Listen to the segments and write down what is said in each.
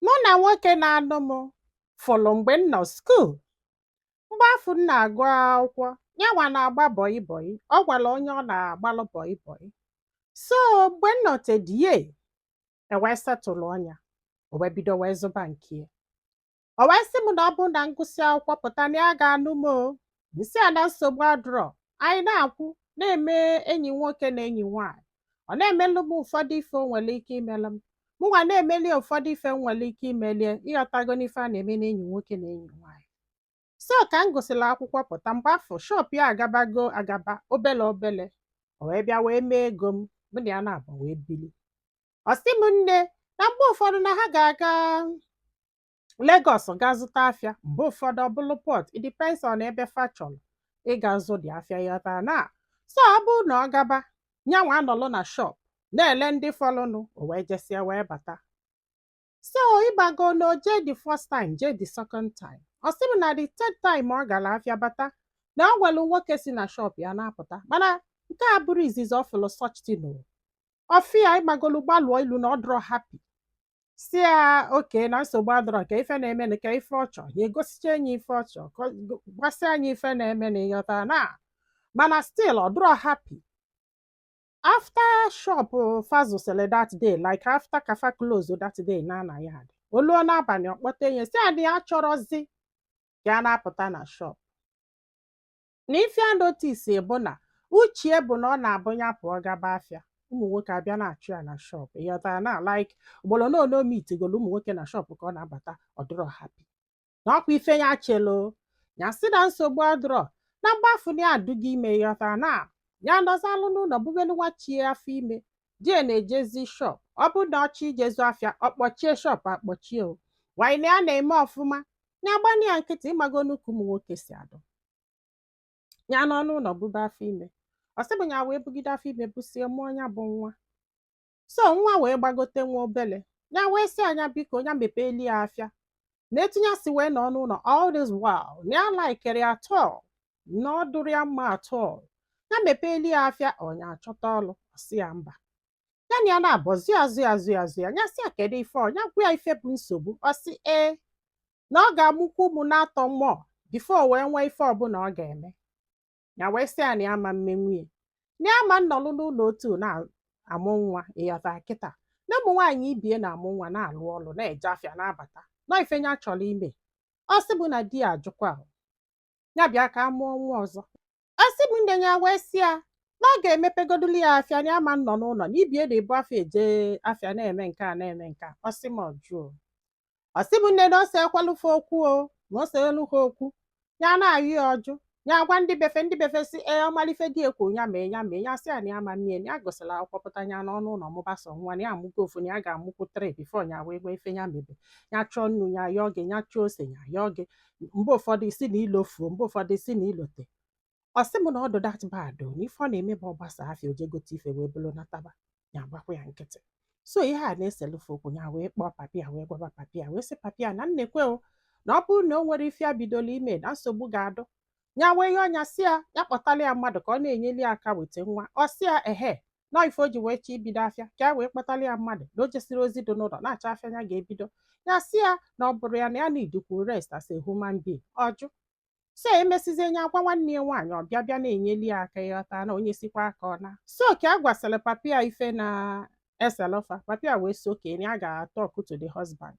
Mụ na nwoke na-anụ m fụrụ mgbe m nọ skuul. Mgbe afụ m na-agụ akwụkwọ, yanwa na-agba bọị bọị. O nwere onye ọ na-agbalụ bọị bọị. So mgbe m nọtedie, e wee setụlụọ nya. O wee bido wee zụba nke ya. O wee sị m na ọ bụ na m gụsịa akwụkwọ pụta na ya ga-anụ m o. M sị ya na nsogbu adịrọ. Anyị na-akwụ na-eme enyi nwoke na enyi nwaanyị. Ọ na-emelụ m ụfọdụ ife o nwere ike imelụ m. Mụnwa na-emeli ya ụfọdụ ife m nwere ike imelie ịghọtago n'ife a na-eme n'enyi nwoke na enyi nwaanyị. So ka m gụsịrị akwụkwọ pụta mgbe afụ shọp ya agabago agaba obele obele. O wee bịa wee mee ego m, mụ na ya naabọ wee bili. Ọ sị m nne na mgbe ụfọdụ na ha ga-aga Lagos gaa zụta afịa mgbe ụfọdụ ọ bụrụ Port it depends on ebe fa chọrọ ịga zụ dị afịa ịghọta na so ọ bụrụ na ọ gaba nyanwa anọlụ na shop na-ele ndị fọlụnụ o wee jesịa wee bata so ịmago na o jee the first time jee the second time ọ sị m na the third time ọ gara afịa bata na o nwelu nwoke si na shop ya na-apụta mana nke a bụrụ izizi ọ fụlụ such thing o ọfịa ịgbagolu gbalụọ ilu na ọ dịrọ happy sị ya oke na nsogbu adịrọ ka ife na-eme na ka ife ọ chọọ ya egosicha anyị ife ọ chọọ ka ọ- go- gwasịa anyị ife na-eme na ịghọta na mana still ọ dịrọ happy after shop fa zụsịlị that day like after ka fa close that day naa na yard o luo n'abalị ọ kpọta nya sị a di ya achọrọzi ka ya na-apụta na shop na ife ya notice bụ na uchie bụ na ọ na-abụ ya pụọ gaba afịa ụmụ nwoke abịa na-achụ ya na shọp ịghọta ya na like ugboro na ole o mitigolu ụmụ nwoke na shọp ka ọ na-abata ọ dịrọ happy na ọkwa ife ya chelu ya sị na nsogbu adịrọ na mgbe afụ na ya adịgo ime ịghọta na ya nọzalụ n'ụlọ bugolu nwa chi ya afọ ime di ya na-ejezi shọp ọ bụ na ọ chọ ije zụ afịa ọ kpọchie shọp akpọchie o wanyị na ya na-eme ọfụma ya gba nya nkịtị ịmagonụ ka ụmụ nwoke si adị ya nọ n'ụlọ bube afọ ime ọ sị bụ ya wee bugide afọ ime busie mụọ ya bụ nwa so nwa wee gbagote nwa obele ya wee sị a nya biko ya mepeeli ya afịa na etu nya si wee nọ n'ụlọ all this while na ya alaikirọ ya at all na ọ dịrọ ya mma at all ya mepeeli ya afịa or nya achọta ọlụ ọ sị ya mba ya na ya naabọ zọ ya zọ ya zọ ya zọ ya ya sị ya kedu ife ọ ya gwa ya ife bụ nsogbu ọ sị ee na ọ ga-amụkwu ụmụ naatọ mụọ bifo o wee nwee ife ọbụla ọ ga-eme ya wee sị ya na ya ama mme nwunye na ya ama nnọlụ n'ụlọ otu na-amụ nwa ịghọta kịta na ụmụ nwaanyị ibie na-amụ nwa na-alụ ọlụ na-eje afịa na-abata na ọ ife ya chọrọ ime ọ sị bụ na di ya ajụkwa a ya bịa ka a mụọ nwa ọzọ Ọ sị m nne ya wee sị ya na ọ ga-emepegodulu ya afịa na ya ama nnọ n'ụlọ na ibe ya na-ebu afọ eje afịa na-eme nke a na-eme nke a ọ sị m ọ jụọ ọ sị m nne na o seekwalụ fa okwu o na o selu ha okwu ya na-ayọ ya ọ jụ ya gwa ndị be fa ndị be fa sị ya ọ malụ ife di ya kwu ya mee ya mee ya sị ya na ya ama mme ya na ya gụsịa akwụkwọ pụta ya nọọ n'ụlọ mụbasa nwa na ya amụgo ofu na ya ga-amụkwu three before ya wee nwee ife ya mebe ya chọọ nnu ya yọọ gị ya chọọ ose ya yọọ gị mgbe ụfọdụ ị sị na i lofuo mgbe ụfọdụ ị sị na i lote ọ sị m na ọ dụ that bad o na ife ọ na-eme bụ ọ gbasaa afịa o je gote ife wee buru nataba ya agbakwa ya nkịtị so ihe a na-eselu fa okwu ya wee kpọọ papa ya wee gwaba papa ya wee sị papa ya na nekwe o na ọ bụrụ na o nwero ife ya bidolu ime na nsogbu ga-adụ ya wee ihe a nya sị ya ya kpọtalụ ya mmadụ ka ọ na-enyeli ya aka weta nwa ọ sị ya ehe na ife o ji wee chọọ ibido afịa ka ya wee kpọtalụ ya mmadụ na o jesiro ozi dị n'ụlọ na-achọ afịa ya ga-ebido ya sị ya na ọ bụrọ ya na ya na-needikwu rest as a human being ọ jụ so e mesizie nya agwa nwanne ya nwaanyị ọ bịa bịa na-enyeli ya aka ịghọta na o nyesikwa aka ọ naa so ka a gwasịrị papa ya ife na-eselu fa papa ya wee sị okay na ya ga-atalk to the husband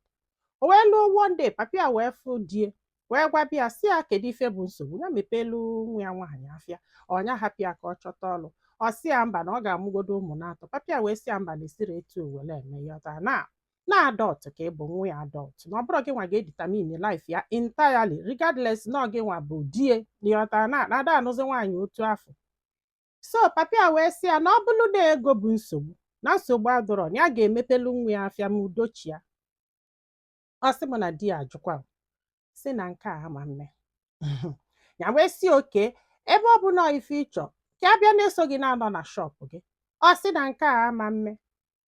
o wee luo one day papa ya wee fụ di ya wee gwaba ya sị ya kedu ife bụ nsogbu ya mepelu nwa ya nwaanyị afịa or nya hapụ ya ka ọ chọta ọlụ ọ sị ya mba na ọ ga-amụgodo ụmụ na-atọ papa ya wee sị ya mba na e siro etu o wee eme ịghọta na na adult ka ị bụ nwa ya adult na ọ bụrọ gị nwa ga-edetermine life ya entirely regardless na ọ gị nwa bụ di ya ịghọta na a da anụzi nwaanyị otu afụ so papa ya wee sị ya na ọ bụrụ na ego bụ nsogbu na nsogbu adịrọ na ya ga-emepelu nwa ya afịa ma udo chịa ọ sị m na di ya ajụkwa sị na nke a ama mme ya wee sị okay ebe ọ bụ na ife ị chọ ka ya bịa na-eso gị na-anọ na shop gị ọ sị na nke a ama mme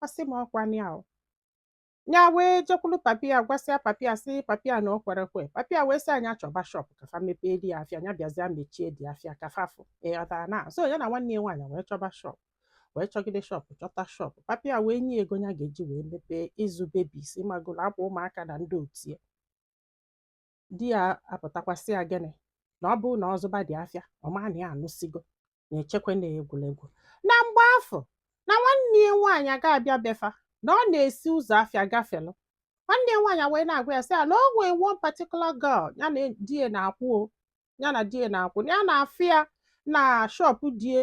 ọ sị m ọ kwa ya o ya wee jekwulu papa ya gwasịa papa ya sị papa ya na o kwero ekwe papa ya wee sị ya nya chọba shop ka fa mepeeli ya afịa nya bịazịa mechieli ya afịa ka fa fụ ịghọtara na so ya na nwanne ya nwaanyị wee chọba shop wee chọgide shop chọta shop papa ya wee nye ego ya ga-eji wee mepee ịzụ babies ị magoro akwa ụmụaka na ndị otu ya di ya apụtakwa sị ya gịnị na ọ bụrụ na ọ zụbadị afịa ọ ma na ya anụsịgo na-echekwa na egwuregwu na mgbe afụ na nwanne ya nwaanyị ga-abịa be fa na ọ na-esi ụzọ afịa gafelụ nwanne ya nwaanyị wee na-agwa ya sị ya na o nwee one particular girl ya na di ya na-akwụ o ya na di ya na-akwụ na ya na-afụ ya na shop di ya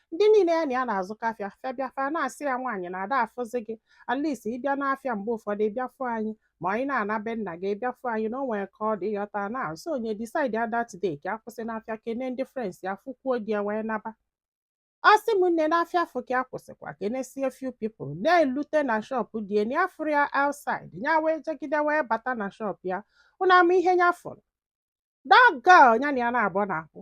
ndị niile ya na ya na-azụkọ afịa fa bịa fa na-asị ya nwaanyị na a da afụzi gị at least ị bịa n'afịa mgbe ụfọdụ ị bịa fụ anyị ma anyị na-ana be nna gị ị bịa fụ anyị na o nwere ka ọ dị ịghọta na so nya decide that day ka ya kwụsị n'afịa kene ndị friends ya fụkwuo di ya wee naba ọ sị m nne n'afịa afụ ka ya kwụsịkwa kenesie few people na-elute na shop di ya na ya afụrọ ya outside ya wee jegide wee bata na shop ya ụnụ ama ihe ya fụrụ that girl ya na ya naabọ na-akwụ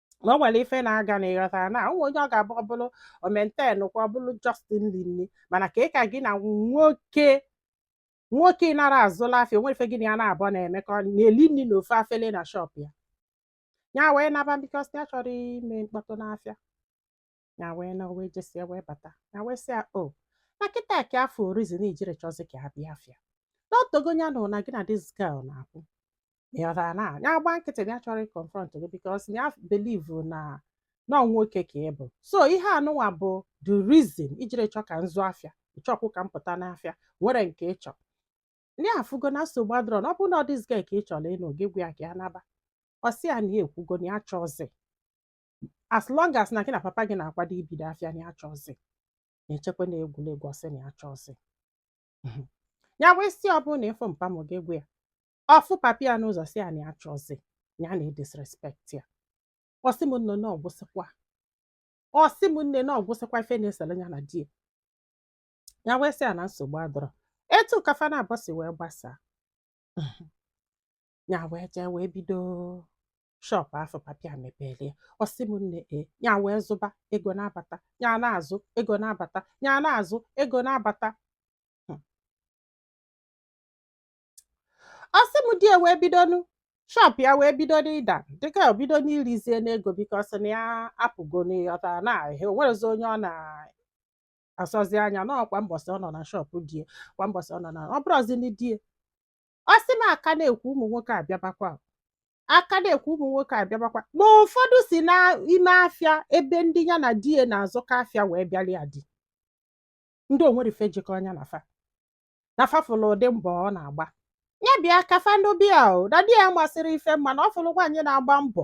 na o nwere ife na-aga na ịghọtara na o nwe onye ọ ga-abụ ọ bụrụ omenten kwa ọ bụrụ just ili nni mana ka ị ka gị na nwoke nwoke ị nara azụla afịa o nwere ife gị na ya naabọ na-emekọ na-eli nni na ofu afele na shọp ya ya wee naba bikos na ya achọrọ ime mkpọtụ n'afịa ya wee na wee jesie wee bata ya wee sị ya o na kịta ka afụ reason ijiri achọzi ka ha bịa afịa na otego ya na na gị na this girl na-akwụ ịghọtara na ya gba nkịtị na ya achọrọ ịkọnfront gị bikos na ya believe na na ọ nwoke ka ị bụ so ihe anụnwa bụ the reason ijiri chọ ka m zụ afịa ịchọkwụ ka m pụta n'afịa nwere nke ịchọ ndị afụgo na nsogbu adịrọ na ọ bụrụ na ọ this girl ka ị chọrọ ịnụ gị gwa ya ka ya naba ọ sị ya na ya ekwugo na ya achọzi as long as na gị na papa gị na-akwado ibido afịa na achọzi na-echekwa na egwuregwu ọ sị na achọzi ya wee sị ọ bụ na ịfụ mpa m gị gwa ya ọ fụ papa ya n'ụzọ sị ya na achọzi ya na-edisrespekt ya ọ sị m nne na ọ gwụsịkwa ọ sị m nne na ọ gwụsịkwa ife na-esere ya na di ya ya wee sị ya na nsogbu adịrọ etu ka fa naabọ si wee gbasaa ya wee jee wee bido shọpụ afụ papa ya mepere ya ọ sị m nne e ya wee zụba ego na-abata ya na-azụ ego na-abata ya na-azụ ego na-abata hmm. ọ sị m di e wee bidonu shọpụ ya wee bido n'ịda dịka o bido n'irizie n'ego bikos na ya apụgo n'ịghọta na ahịa o nwerezi onye ọ na-asọzi anya na kwa mbọsị ọ nọ na shọpụ di e kwa mbọsị ọ nọ na ọ bụrụzi ndị di e ọ sị m a ka na-ekwu ụmụ nwoke abịabakwa a ka na-ekwu ụmụ nwoke abịabakwa ma ụfọdụ si n'ime afịa ebe ndị ya na di ya na-azụkọ afịa wee bịara ya di ndị o nwere ife jikọ nya na fa na fa fụlụ ụdị mbọ ọ na-agba ya bịa ka fa nụba ya o na di ya amasịrọ ife mma na ọ fụlụ nwaanyị na-agba mbọ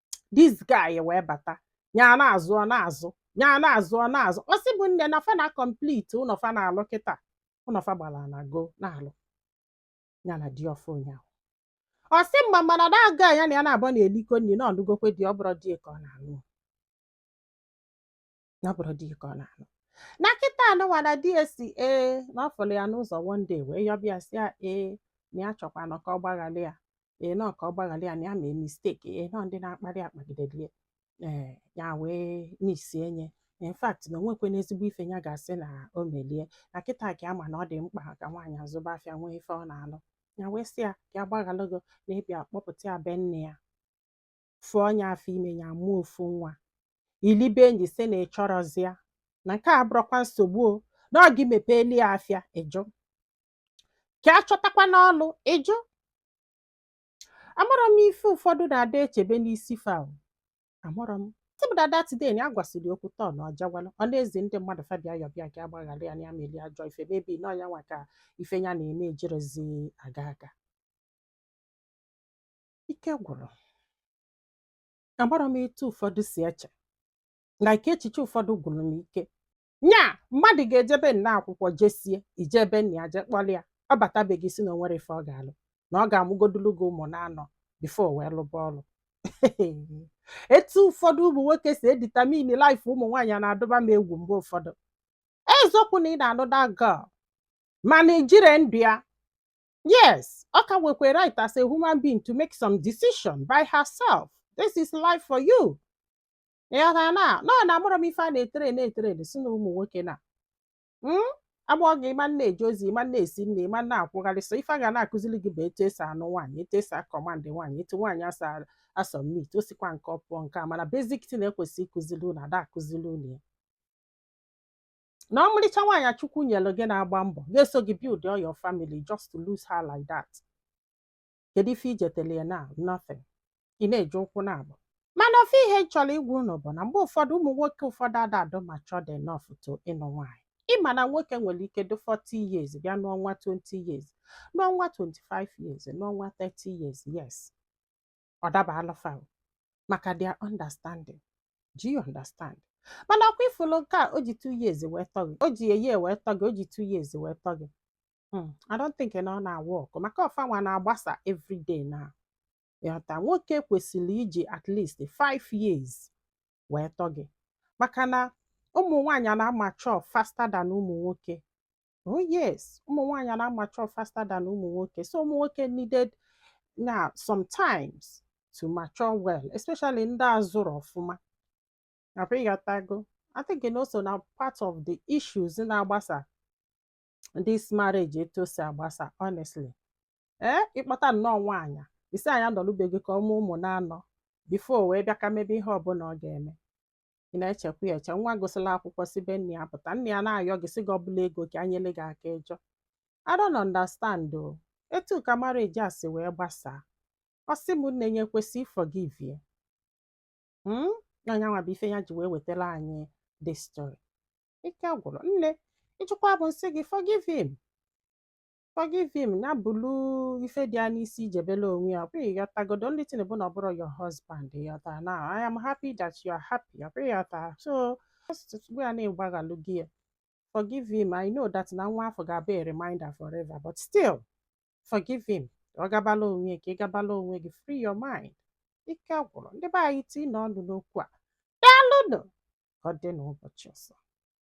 this guy wee bata nya na-azụ ọ na-azụ nya na-azụ ọ na-azụ ọ sị m nne na fa na complete ụnọ fa na-alụ kịta ụnọ fa gbara na go na-alụ ya na di ọfụụ nya ahụ ọ sị m mana that girl ya na ya naabọ na-elikọ nni na ọ nụgokwe di ọ bụrọ di e ka ọ na-anụ na ọ bụrọ di ya ka ọ na-anụ na kịta anụnwa na di ya si ee na ọ fụrụ ya n'ụzọ one day wee yọba ya sị ya ee na ya chọkwana ka ọ gbaghara ya ee na ka ọ gbaghara ya na ya mee mistake ee na ndị na-akparị akpagidedie ee ya wee isi enye in fact na o nwekwana ezigbo ife ya ga-asị na o melie na kịta ka a ma na ọ dị mkpa ka nwaanyị azụba afịa nwee ife ọ na-alụ ya wee sị ya ka ya gbaghalụ gị na ịbịa kpọpụta ya be nne ya fụọ ya afọ ime ya mụọ ofu nwa ilibe enyi sị na ị chọrọzi ya na nke a abụrọkwa nsogbu o na ọ gị mepeeli ya afịa ị jụ ka a chọtakwanụ ọlụ ị jụ amarọ m ife ụfọdụ na-ada echebe n'isi fa o. amarọ m tibụdada tiden ya gwasịrị okwu tọọ na ọjawala ọ na-ezi ndị mmadụ fa bịa yọba ya ka a gbaghara ya na ya meli ajọ ife maybe na ọ nyanwa ka ife ya na-eme ejirọzi aga aga ike gwụrụ amarọ m etu ụfọdụ si eche na ike echiche ụfọdụ gwụrụ m ike nya mmadụ ga-eje be nna akwụkwọ jesịa i je be nna ya je kpọrọ ya ọ bata be gị ị sị na o nwerọ ife ọ ga-alụ na ọ ga-amụgodulu gị ụmụ na-anọ before o wee lụba ọlụ etu ụfọdụ ụmụ nwoke si edetermine life ụmụ nwaanyị na-atụba m egwu mgbe ụfọdụ eziokwu na ị na-anụ that girl mana i jirọ ndụ ya Yes, ọ ka nwekwa right as a human being to make some decision by herself. This is life for you. Ịghọtara na nọ na amụrụ m ife a na-etere na-etere si na ụmụ nwoke na Mm? a mụọ gị ị ma na-eje ozi ị ma na-esi nri ị ma na-akwụgharị sọ ife a ga na-akụziri gị bụ etu e si anụ nwaanyị etu e si acommand nwaanyị etu nwaanyị si asubmit o sikwa nke ọ pụọ nke a mana basic thing e kwesị ịkụziri unu ada akụziri unu ya na ọmarịcha nwaanyị a Chukwu nyere gị na-agba mbọ na-eso gị build all your family just to lose her like that kedu ife i jetele ya na nothing ị na-eji ụkwụ na-agba mana ofu ihe m chọrọ ịgwa unu bụ na mgbe ụfọdụ ụmụ nwoke ụfọdụ ada adị matured enough to ịnụ nwaanyị ị ma na nwoke nwere ike dị 40 years bịa nụọ nwa 20 years nụọ nwa 25 years nụọ nwa 30 years yes ọ dabalụ fa o, maka their understanding do you understand mana ọ kwa ị fụlụ nke a o ji two years wee tọ gị o ji a year wee tọ gị o ji two years wee tọ gị Hmm, I don't think na ọ na-awork maka ọ fanwa na-agbasa everyday na ịghọta nwoke kwesịrị iji at least five years wee tọ gị maka na ụmụ nwaanyị na-amature faster than ụmụ nwoke oh yes ụmụ nwaanyị na-amature faster than ụmụ nwoke so ụmụ nwoke needed na sometimes to mature well especially ndị a zụrọ ọfụma nakwa ị ghọtago I think na o so na part of the issues na-agbasa this marriage etu o si agbasa honestly ee eh, ị kpọta nnọọ nwaanyị ị sị nya nọlụ be gị ka ọ mụọ ụmụ na-anọ before wee bịa ka mebe ihe ọbụla ọ ga-eme ị na-echekwa ya eche nwa gụsịla akwụkwọ si be nne ya pụta nne ya na-ayọ gị sị gị ọ bụlụ ego ka e nyelụ gị aka ị jụ I don't understand ọ etu ka marriage a si wee gbasaa ọ sị m na nya ekwesị forgive ya hmm? na nyanwa bụ ife ya ji wee wetara anyị this story ike gwụrụ nne ị jụkwa mụ m sị gị forgive him Forgive him na bulu ife dị ya n'isi ijebela onwe ya ọkwa ịghọtago the only thing bụ na ọ bụrụ your husband ịghọta na I am happy that you are happy ọkwa ịghọta so ugbu a na-egbaghalụ gị ya forgive him I know that na nwa afụ ga-abụ a reminder forever but still forgive him ọ gabala onwe ya ị gabala onwe gị free your mind ike gwụrụ ndị be anyị tiinụ ọnụ n'okwu a daalụnụ ka ọ dị n'ụbọchị ọzọ